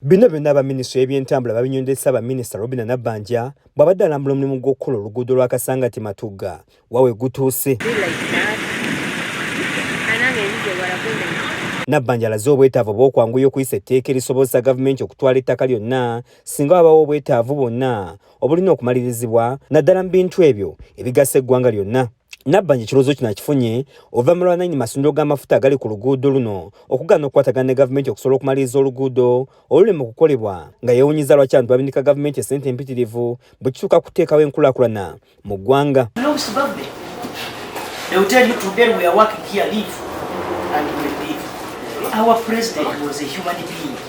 Bino byonna aba minisitule y'ebyentambula babinyonde Ssaabaminisita Robina Nabbanja bw'abadde alambula omulimu gw'okukola oluguudo lwa Kasangati Matugga wa we gutuuse. Nabbanja alaze obwetaavu obw'okwanguya okuyisa etteeka erisobozesa gavumenti okutwala ettaka lyonna singa wabawo obwetaavu bwonna obulina okumalirizibwa naddala mu bintu ebyo ebigasa eggwanga lyonna. Nabbanja ekirowoozo kino akifunye oluvannyuma lwa nnannyini masundiro g'amafuta agali ku luguudo luno okugaana okukwatagana ne gavumenti okusobola okumaliriza oluguudo olulema okukolebwa nga yeewunyizza lwaki abantu babinika gavumenti essente empitirivu bwe kituuka kuteekawo enkulaakulana mu ggwanga Our president was a human being.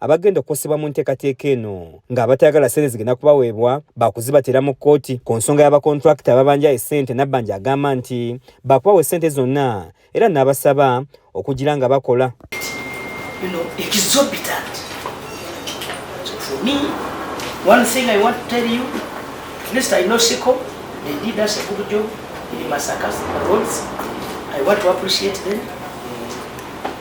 abagenda okukosebwa mu nteekateeka eno ng'abatayagala ssente zigenda kubaweebwa baakuzibatera mu kkooti ku nsonga y'abakontulakita ababanja essente nabbanja agamba nti baakubawa essente zonna era n'abasaba okugira nga bakola I want to appreciate them.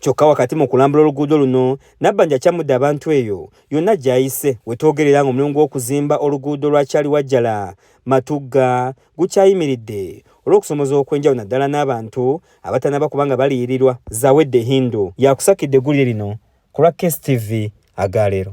Kyokka wakati mu kulambula oluguudo luno, Nabbanja akyamudde abantu eyo yonna gy'ayise we twogerera ng'omulimu gw'okuzimba oluguudo lwa Kyaliwajjala, Matugga gukyayimiridde olw'okusomoza okw'enjawulo naddala n'abantu abatannaba kuba nga baliyirirwa. Zawedde Hindu y'akusakidde eggulire lino ku lwa KSTV aga leero.